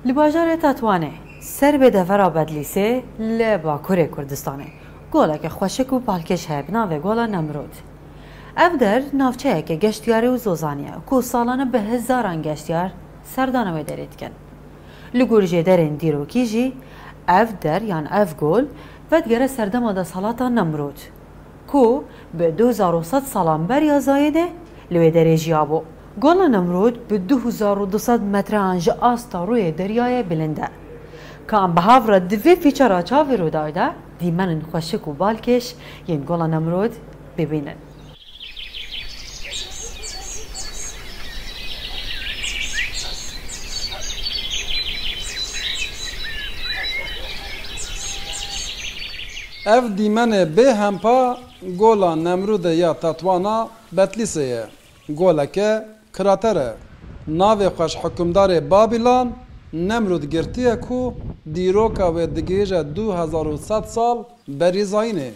Li bajarê Tetwanê ser bê devera Bedlîsê li bakurê Kurdistanê goleke xweşik û balkêş heye bi navê Gola Nemrûd. Ev der navçeyeke geştyarî û zozanî ye ku salane bi hezaran geştyar serdana wê derê dikin. Li gor jêderên dîrokî jî ev der yan ev gol vedigere serdema desthilata Nemrûd. Ku bi du hezar û sed salan beriya zayedê li wê derê jiyabû. Gola Nemrûd bi du hezar û du sed metreyan ji asta rûyê deryayê bilind e. Ka em bi hav re di vê fîçera çavê Rûdawê de dîmenin xweşik û balkêş yên Gola Nemrûd bibînin. Ev dîmenê bê hempa Gola Nemrûdê ya Tetwana Betlîsê ye. Goleke krater e. Navê xwe ji hikûmdarê Babîlan Nemrûd girtiye ku dîroka wê digihîje du hezar û sed sal berî zayînê.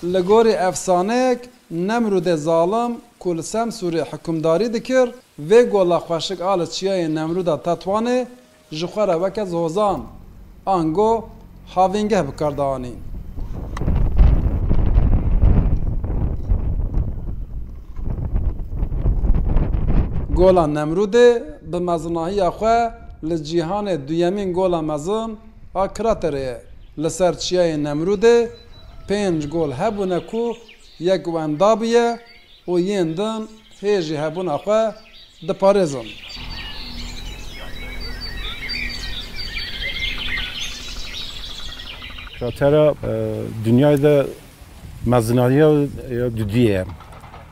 Li gorî efsaneyek Nemrûdê zalim ku li Semsûrê hikûmdarî dikir, vê gola xweşik a li çiyayê Nemrûda Tetwanê ji xwe re weke zozan, ango havîngeh bi kar dianîn. Gola Nemrûdê bi mezinahiya xwe, li cîhanê duyemîn gola mezin a kraterê ye. Li ser çiyayê Nemrûdê pênc gol hebûne ku yek wenda bûye û yên din hê jî hebûna xwe diparêzin. Kratera dinyayê de mezinariya dudiyê ye.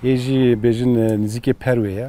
Hê jî bêjin nizîkê perwê ye.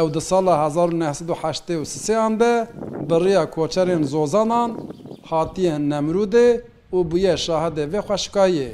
Ew di sala hezar û neh sed û heştê û sisêan de bi rêya koçerên Zozanan hatiye hin Nemrûdê û bûye şahidê vê xweşikayê.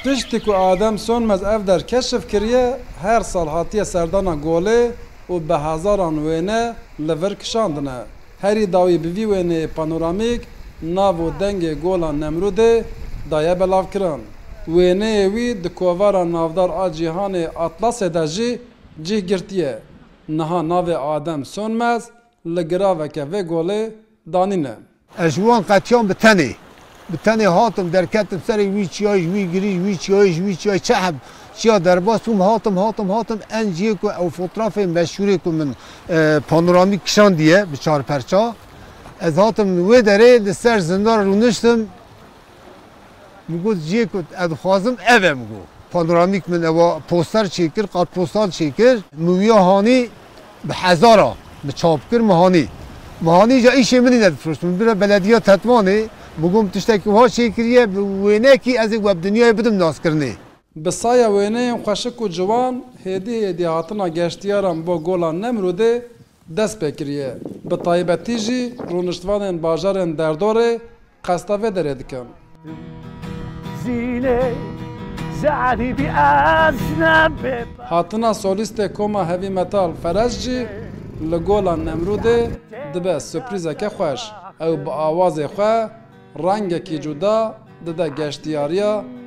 Piştî ku Adem Sönmez ev der keşif kiriye, her sal hatiye serdana golê û bi hezaran wêne li vir kişandine. Herî dawî bi vî wêneyê panoramîk nav û dengê Gola Nemrûdê daye belavkirin. Wêneyê wî di kovara navdar a cîhanê Atlasê de jî cih girtiye. Niha navê Adem Sönmez li giraveke vê golê danîne. Ez ji wan qetiyan bi tenê. Bi tenê hatim, derketim serê wî çiyayê, ji wî girî, ji wî çiyayê, ji wî çiyayê çi heb? Çiya derbas bûm, hatim, hatim, hatim en cihê ku ew fotrafê meşhûrê ku min panoramîk kişandiye bi çar perça. Ez hatim wê derê li ser zindar rûniştim. Min got cihê ku ez dixwazim ev e min got. Panoramîk min ewa poster çêkir, kartpostal çêkir. Min wiya hanî. Bi hezar a bi çap kir mihanî. Mihanî îca îşê min îne difroşt. Min bira belediya Tetwanê bû got min tiştekî wiha çêkiriye bi wênekî ez ê we bi dinyayê bidim naskirinê. Bi saya wêneyên xweşik û ciwan hêdî hêdî hatina geştyaran bo Gola Nemrûdê dest pê kiriye. Bi taybetî jî rûniştvanên bajarên derdorê Qesta vê derê dikim. Hatina solîstê koma heavy metal Ferez jî li gola Nemrûdê dibe surprîzeke xweş. Ew bi awazê xwe rengekî cuda dide geştiyariya.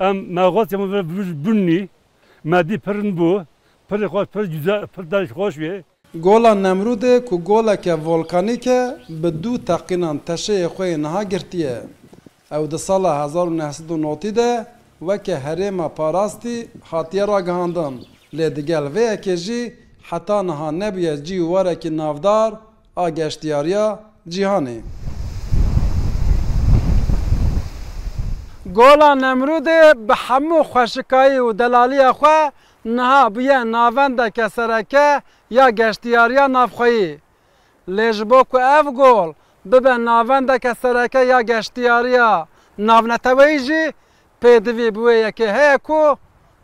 Em me got ya min vir vir bûnnî, me dî pirin bû, pirê xwe pir cuda, pir derg xweş bê. Gola Nemrûdê ku goleke volkanîk e, bi du teqînan teşeyê xwe yê niha girtiye. Ew di sala hezar û neh sed û notî de weke herêma parastî hatiye ragihandin, lê digel vê yekê jî heta niha nebûye cî û warekî navdar, a geştyariya cîhanê. Gola Nemrûdê bi hemû xweşikayî û delaliya xwe niha bûye navendeke sereke ya geştyariya navxweyî. Lê ji bo ku ev gol bibe navendeke sereke ya geştyariya navneteweyî jî pêdivî bi wê yekê heye ku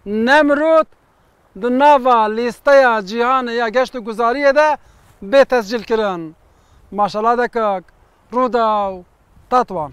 Nemrûd di nava lîsteya cîhanê ya geştûguzariyê de bê tescîlkirin. Maşala dekak, Rûdaw, Tatwan.